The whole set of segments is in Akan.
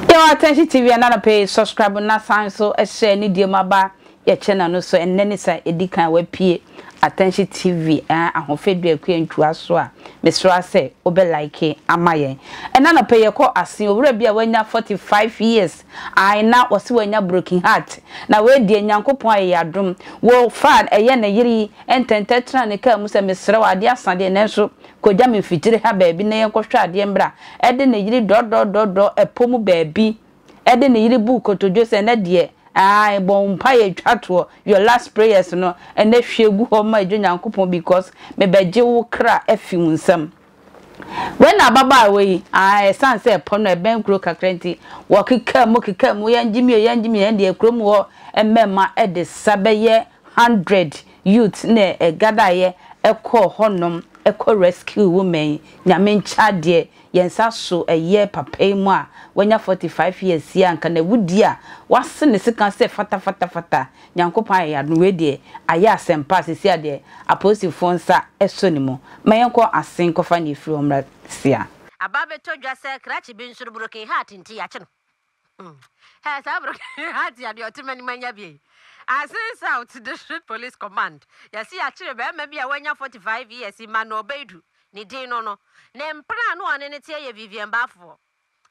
Yɛwɔ atɛnhye TV ɛna no pɛ subscribe na san so ɛhyɛ ne deɛ mu aba Yɛkyɛ na no so ɛnnɛ ne sa edi kan a wapue Attention TV ɛɛ Ahofɛ Duakua Ntua so a, mesra sɛ wo bɛ like ama yɛn. Ɛnnɛ anɔpɛ yɛkɔ asen owura bi a wanya 45 years ae na wɔse wanya broken heart na wei deɛ Nyankopɔn ayɛ yɛn adom wo faa ɛyɛ ne yere yi ntɛntɛ tena ne car mu sɛ mesrɛ wo adeɛ asa deɛ nanso kɔgya me mfitire ha baabi na yɛnkɔ hwɛ adeɛ mmra ɛde ne yere dɔdɔdɔdɔ ɛpɔ mu baabi de ne yere buu kotodwe sɛ ɛnɛ deɛ ae bɔ wo mpaeɛ twa toɔ your last prayers no ɛnɛ hwie gu hɔ ma ɛdwo Nyankopɔn because mebɛgye wo kra afi wo nsam Wei na ababaawa yi ae ɛsiane sɛ ɛpɔ no ɛbɛn kuro kakra nti wɔkekaa mu kekaa mu yɛngye mi o yɛngye mi ɛndeɛ kurom hɔ mmɛɛma de sa bɛyɛ hundred youths na ɛgadaeɛ ɛkɔɔ hɔnom ɛkɔ rescue woman yi Nyame nkyɛ adeɛ Yɛn nsa so ɛyɛɛ papa yi mu a wanya 45 years yi a nka n'awudie a wase ne sika sɛ fata fata fata Nyankopɔn ayɛ y'adom wei deɛ ayɛ asɛmpa a seesei a deɛ apolisifoɔ nsa sɔ ne mu ma yɛnkɔ ase nkɔfa nea ɛfiri hɔ mmra seesei a. Aba abɛtɔ dwa sɛ krakye bi nso no broken heart nti yɛakye no. Hɛ, saa bere no Hadia deɛ ɔte m'anim anya bi ei. Asin South District Police Command, yɛse yɛakyere barima bi a wanya 45 years, Emmanuel Baidu ne din no no, ne mpena a na ɔne no teɛ yɛ Vivian Bafoɔ.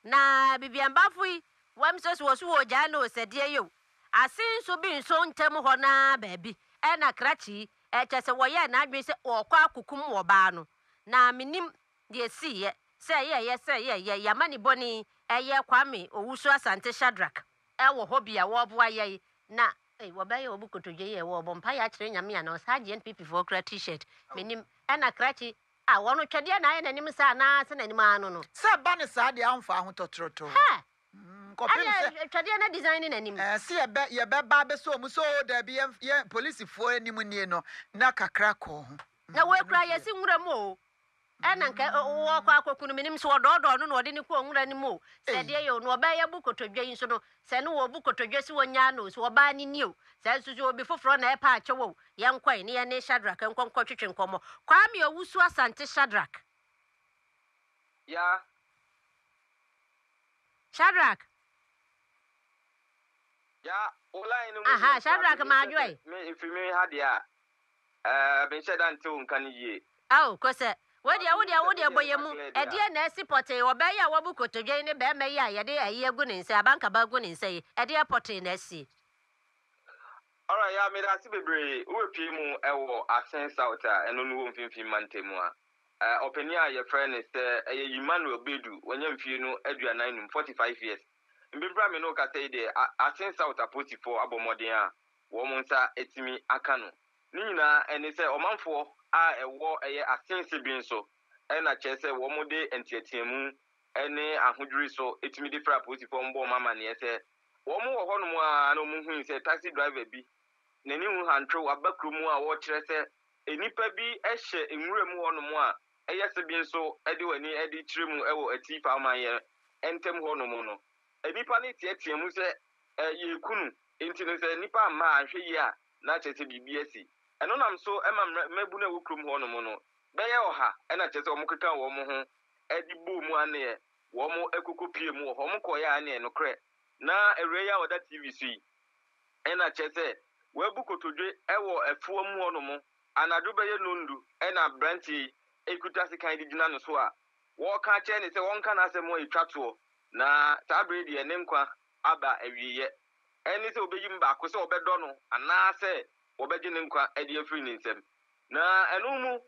Na Vivian Bafo yi, wam sɛ so wɔso wɔregyaa no o, sɛdeɛ yɛ o. Asin nso bi nso ntam hɔ no ara baabi na Krakye yi, ɛkyɛsɛ wɔyɛɛ n'adwene sɛ ɔrekɔ akokum ɔbaa no. Na mennim Deɛ ɛsiiɛ, sɛ ɛyɛeɛ sɛ yɛyɛ yɛn amanibɔne yi, ɛyɛ Kwame Owusu Asante Shadrack, ɛwɔ hɔ bi a wɔreboa yɛn, na. Ei, wɔbɛyɛ obi kotodwe yie, wɔrebɔ mpaeɛ akyerɛ Nyame anaa ɔsaa agye NPP foɔ kura T-shirt, mennim, ɛna krakye, ah, wɔno twɛdeɛ na ayɛ n'anim saa anaa sɛ n'anim ara no no. Sɛ ɛba no saa deɛ amfa ahotɔtrotoo. Ha! Ɛne ɛ, twɛdeɛ no design ne n'anim. Ɛɛ, sɛ yɛbɛ, yɛbɛba abɛsɔ wɔn mu sɛ oo daabi yɛn, yɛn, polisifoɔ anim nie no, na kakra kɔɔ ho. Na wɔakura yɛn asi nwura mu oo, Ɛna nka ɔɔkɔ akɔku no, menim sɛ ɔdɔɔdɔɔ no na ɔde no kɔɔ nwura no mu o, sɛ deɛ yɛ o, na ɔbaa yi abu kotodwe yi nso no, sɛ ne wɔɔbu kotodwe sɛ ɔnyaa no o, sɛ ɔbaa no nie o, sɛ nso sɛ obi foforɔ na ɛɛpɛ akyɛ wo o, yɛnkɔe ne yɛne Shadrack nkɔ nkɔtwetwe nkɔmmɔ. Kwame Owusu Asante Shadrack. Ya. Shadrack. Ya, wo line no mu Aha, deɛ nti Shadrack afei me nhyɛ sɛ Maadwoe. me, ɛfiri me ha deɛ a, Eh, menhyɛ da nte wo nka no yie. Ao, Kose, wei deɛ wo deɛ wo deɛ bɔ yɛn mu, ɛdeɛn na asi pɔtee, ɔbaa yi a wabu kotodwe yi ne barima yi a yɛde ayi agu ne nsa, abankaba agu ne nsa yi, ɛdeɛn pɔtee na asi? Alright, ya, meda ase bebree. Wobɛpue mu wɔ Asen South a ɛno no wɔ Mfimfini Mantam a, eh, ɔpanin a yɛfrɛ no sɛ ɛyɛ Emmanuel Badu, wanya mfie no aduanan nnum, forty five years. Mprempren a me ne wo kasa yi deɛ, A-Asen South apolisifoɔ abɔ mmɔden a wɔn nsa atumi aka no. Ne nyinaa ɛne sɛ ɔmanfoɔ a ɛwɔ ɛyɛ asen Sibrin so na kyerɛ sɛ wɔn de nteateamu ne ahodwiri so tumi de frɛ apolisifoɔ wɔn bɔ wɔn amaneɛ sɛ wɔn wɔ hɔ nom ara na wɔn hui sɛ taxi driver bi n'ani hu hantrew aba kuro mu a wɔkyerɛ sɛ nnipa bi hyɛ nwura mu hɔ nom a ɛyɛ Sibrin so de wɔn ani de kyerɛ mu wɔ Atifa amanyɛ ntam hɔ nom no nnipa no teateamu sɛ yɛreku no. Enti no, sɛ nnipa amma anhwɛ yie a, na kyerɛ sɛ biribi asi. Ɛno nam so ma mmaabunu a ɛwɔ kurom hɔnom no bɛyɛ ɔha na kyerɛ sɛ wɔkekaa wɔn ho de bɔɔ mu aneɛ, wɔn koko piee mu wɔ hɔ, wɔn kɔeɛ ara neɛ, nokorɛ, na awuraa yi a ɔda TV so yi na kyerɛ sɛ wabu kotodwe wɔ afuo mu hɔnom, anadwo bɛyɛ nnɔndu na abranteɛ yi ɛkuta sekan de gyina ne so a wɔreka akyerɛ ne sɛ wɔnka n'asɛm a ɛtwa toɔ, na saa berɛ yi deɛ ne nkwa aba awieeɛ. Ɛne sɛ wɔbɛyi mu baako, sɛ wɔbɛdɔ no anaasɛ wɔbɛgye ne nkwa adi afiri ne nsam. Na ɛno mu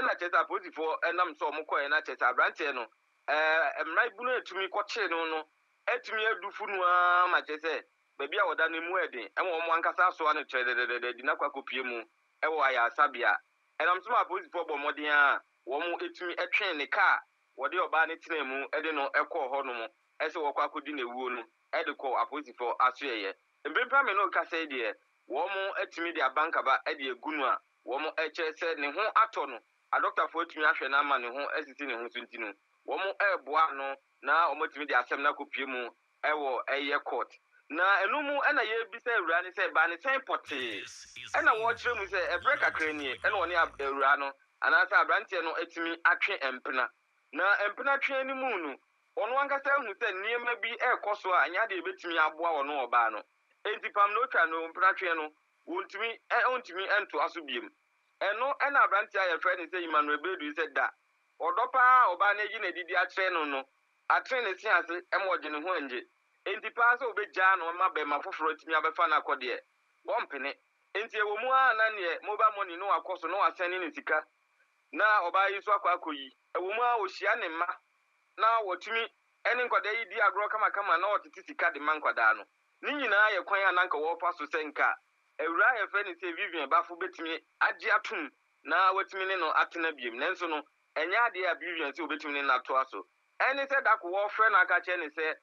na kyerɛ sɛ apolisifoɔ nam so a wɔkɔeɛ, na kyerɛ sɛ aberanteɛ no, mmerabunu a ɛtumi kɔkyere no no atumi adu fo no ara ma kyerɛ sɛ baabi a ɔda no emu yɛ den ma wɔn ankasa asoa no kyerɛdɛdɛdɛdɛ de no akɔ akɔpue mu wɔ ayaresabea. Ɛnam so ma apolisifoɔ bɔɔ mmɔden ara a wɔtumi twee ne kaa a wɔde ɔbaa no tenaa mu de no kɔɔ hɔ nom. sɛ wɔkɔ akɔdi no awuo no de kɔ apolisifoɔ asoɛeɛ. Mprempren a me ne wo rekasa yi deɛ, wɔatumi de abankaba de agu no a wɔkyerɛ sɛ ne ho atɔ no, adɔkotafoɔ atumi ahwɛ no ama ne ho asisi ne ho so nti no, wɔreboa ano na wɔatumi de asɛm no akɔpue mu wɔ ɛyɛ court. Na ɛno mu na yɛrebisa awuraa no sɛ baa ne sɛn pɔtee na wɔrekyerɛ mu sɛ ɛberɛ kakra nie na wɔne awuraa no anaasɛ aberanteɛ no atumi atwe mpena. Na mpena twea no mu no, Ɔno ankasa ahu sɛ nneɛma bi rekɔ so a ɛnyɛ ade a ebetumi aboa ɔno ɔbaa no. Enti pam nea otwa no, mpenatwe no, wontumi, ontumi ntoa so bio. Ɛno na aberante a yɛfrɛ no sɛ Emmanuel Bedu yi sɛ da. Ɔdɔ pa ara a ɔbaa no ayi no adi de akyerɛ no no atene ne se ase ma ɔgye ne ho ngye. Enti pa ara sɛ obegyaa no ma barima foforo atumi abɛfa no akɔ deɛ, ɔmpene. Enti ɛwɔ mu ara a na neɛ mobile money no akɔ so na wasɛne no sika na ɔbaa yi nso akɔ akɔyi. Ɛwɔ mu ara a ohyia ne mma na wɔtumi ne nkwadaa yi di agorɔ kamakama na wɔtete sika de ma nkwadaa no. Ne nyinaa yɛ kwan a na anka wɔrefa so sɛ nka awuraa a yɛfrɛ no sɛ Vivian Bafo bɛtumi agye atom na wɔatumi ne no atena biom. Nanso no, ɛnyɛ adeɛ a Vivian sɛ wɔbɛtumi ne no atoa so. Ɛne sɛ da ko wɔrefrɛ no aka akyerɛ no sɛ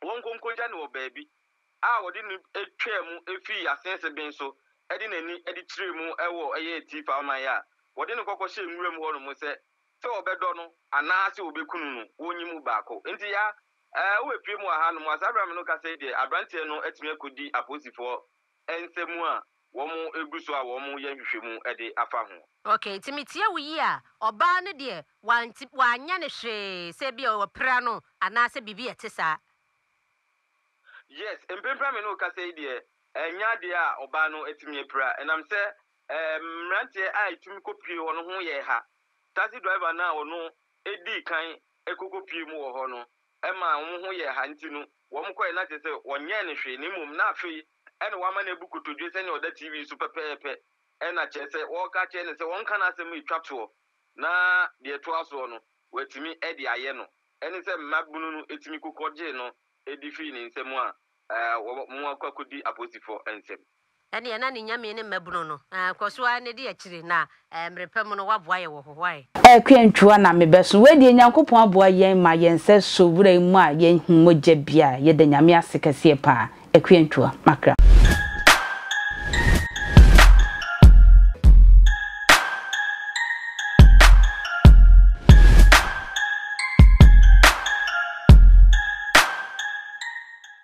wɔnkɔ nkɔgya no wɔ baabi a wɔde no twaa mu fii asease ben so de n'ani de kyerɛɛ mu wɔ ɛyɛ Atifa ɔman a wɔde no kɔkɔhyɛɛ nwura mu hɔnom sɛ sɛ wɔbɛdɔ no anaa sɛ wɔbɛkunu no, wɔnyi mu baako. Enti ya eh, wobɛpue mu wɔ hanom a? Saa berɛ a me ne wo kasa yi deɛ, aberanteɛ no atumi akɔdi apolisifoɔ nsa mu a wɔgu so a wɔreyɛ nhwehwɛmu de afa ho. Okay, nti metie wo yie a, ɔbaa no deɛ wanti, wanyɛ no hwee sɛ ebia wɔapira no anaa sɛ biribi a ɛte saa? Yes, mprempren a me ne wo kasa yi deɛ, ɛnyɛ adeɛ a ɔbaa no atumi apira, ɛnam sɛ eh, mmeranteɛ a ɛtumi kɔpue hɔ no ho yɛ ha. Taxi driver no a ɔno dii kan kokopiee mu wɔ hɔ no maa wɔn ho yɛɛ ha nti no, wɔkɔe na kyerɛ sɛ wɔnyɛɛ no hwee na mmom na afei na wɔama no abu kotodwe sɛnea ɔda TV so pɛpɛɛpɛ na kyerɛ sɛ wɔreka akyerɛ no sɛ ɔnka n'asɛm retwa toɔ na deɛ ɛtoa soɔ no watumi de ayɛ no ne sɛ mmabunu no tumi kokɔgyee no de firii ne nsam a Aa wɔ mo akɔ akɔdi apoosifoɔ nsam. Ɛnneɛ na ne nyame ne mmabunu no. Aa kɔ so ara na di akyire na ɛɛ mmere pa mu no woaboa yɛ wɔ hɔ wai. Ɛɛ kwantwua na me bɛso. Wei deɛ Nyankopɔn aboa yɛn ma yɛn nsa so wura yi mu a yɛn hu mogya bi a yɛda Nyame ase kɛseɛ paa. Akuantwua makra.